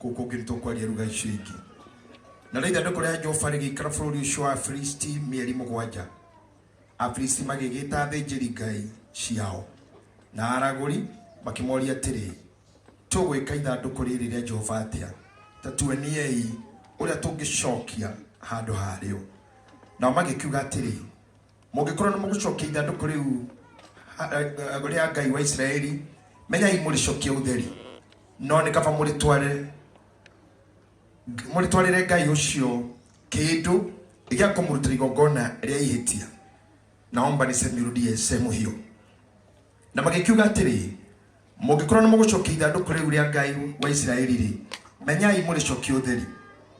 Gũkũ ngĩrĩtwo kwaria ruga icio ingĩ. Na rĩu ithandũkũ rĩa Jehova rĩgĩikara bũrũri ũcio wa Afilisti mĩeri mũgwanja. Afilisti magĩgĩta athĩnjĩri ngai ciao na aragũri makĩmoria atĩrĩ, tũgwĩka ithandũkũ rĩrĩ rĩa Jehova atĩa? Ta tuoniei ũrĩa tũngĩcokia handũ harĩo. Nao magĩkiuga atĩrĩ, Mũngĩkorwo nĩ mũgũcokia ithandũkũ rĩu ha- eh, eh, rĩa Ngai wa Isiraeli, menyai mũrĩcokie ũtheri, no nĩ kaba mũrĩtware mũrĩtwarĩre Ngai ũcio kĩndũ gĩa kũmũrutĩra igongona rĩa ihĩtia. Naomba niseme irudie sehemu hiyo. na magĩkiuga atĩrĩ mũngĩkorwo nĩ mũgũcokia ithandũkũ rĩu rĩa ngai wa isiraeli rĩ menyai mũrĩcokia ũtheri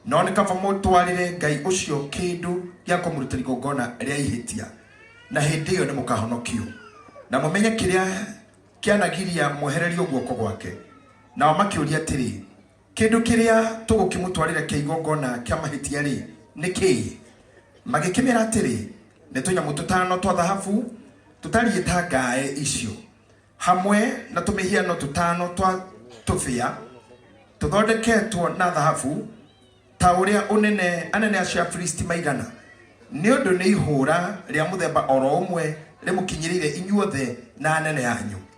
no nĩ kaba mũtwarĩre ngai ũcio kĩndũ gĩa kũmũruta igongona rĩa ihĩtia na hĩndĩ ĩyo nĩ mũkahonokio na mũmenye kĩrĩa kĩanagiria mwehererio guoko gwake nao makĩũria atĩrĩ Kĩndũ kĩrĩa tũgũkĩmũtwarĩra kĩa igongona kĩa mahĩtia-rĩ, nĩ kĩĩ? Magĩkĩmera atĩrĩ, Nĩ tũnyamũ tũtano twa thahabu tũtariĩ ta ngaĩ icio, hamwe na tũmĩhiano tũtano twa tũbĩa tũthondeketwo na thahabu, ta ũrĩa ũnene anene acio a Filisti maigana, nĩ ũndũ nĩ ihũũra rĩa mũthemba o ro ũmwe rĩmũkinyĩrĩire inyuothe na anene anyu.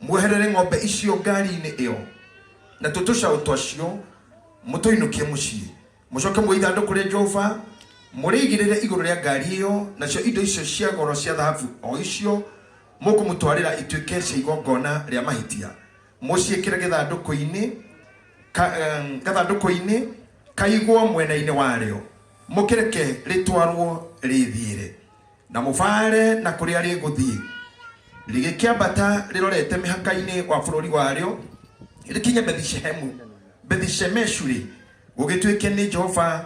Mweherere ng'ombe icio ngari-inĩ ĩyo na tuo tũcaũ twacio, mũtũinũkie mũciĩ. Mũcoke muoe ithandũkũ rĩa Jehova, mũrĩigĩrĩre igũrũ rĩa ngari ĩyo, nacio indo icio cia goro cia thahabu o icio mũkũmũtwarĩra ituĩke cia igongona rĩa mahĩtia. Mũciĩkĩre gĩthandũkũ-inĩ ka, em, gathandũkũ-inĩ kaigwo mwena-inĩ warĩo, mũkĩreke rĩtwarwo rĩthiĩre. na mũbaare na kũrĩa rĩgũthiĩ rĩgĩkĩambata rĩrorete mĩhaka-inĩ wa bũrũri warĩo rĩkinye bethishehemu bethishemeshu rĩ gũgĩtuĩke nĩ jehova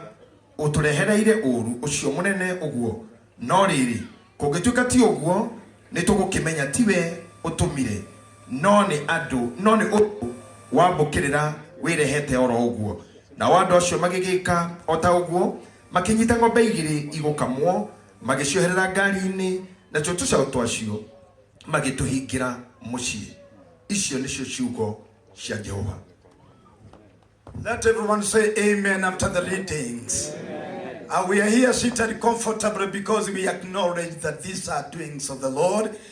ũtũrehereire ũũru ũcio mũnene ũguo no rĩrĩ kũngĩtuĩka ti ũguo nĩ tũgũkĩmenya tiwe ũtũmire no nĩ andũ no nĩ ũndũ wambũkĩrĩra wĩrehete oro ũguo nao andũ acio magĩgĩka o ta ũguo Makĩnyita ng'ombe igĩrĩ igũkamwo, magĩcioherera ngari-inĩ, natuo tũcaũ twacio magĩtũhingĩra mũciĩ. Icio nĩcio ciugo cia Jehova. Let everyone say amen after the readings. And we are here seated comfortably because we acknowledge that these are doings of the Lord.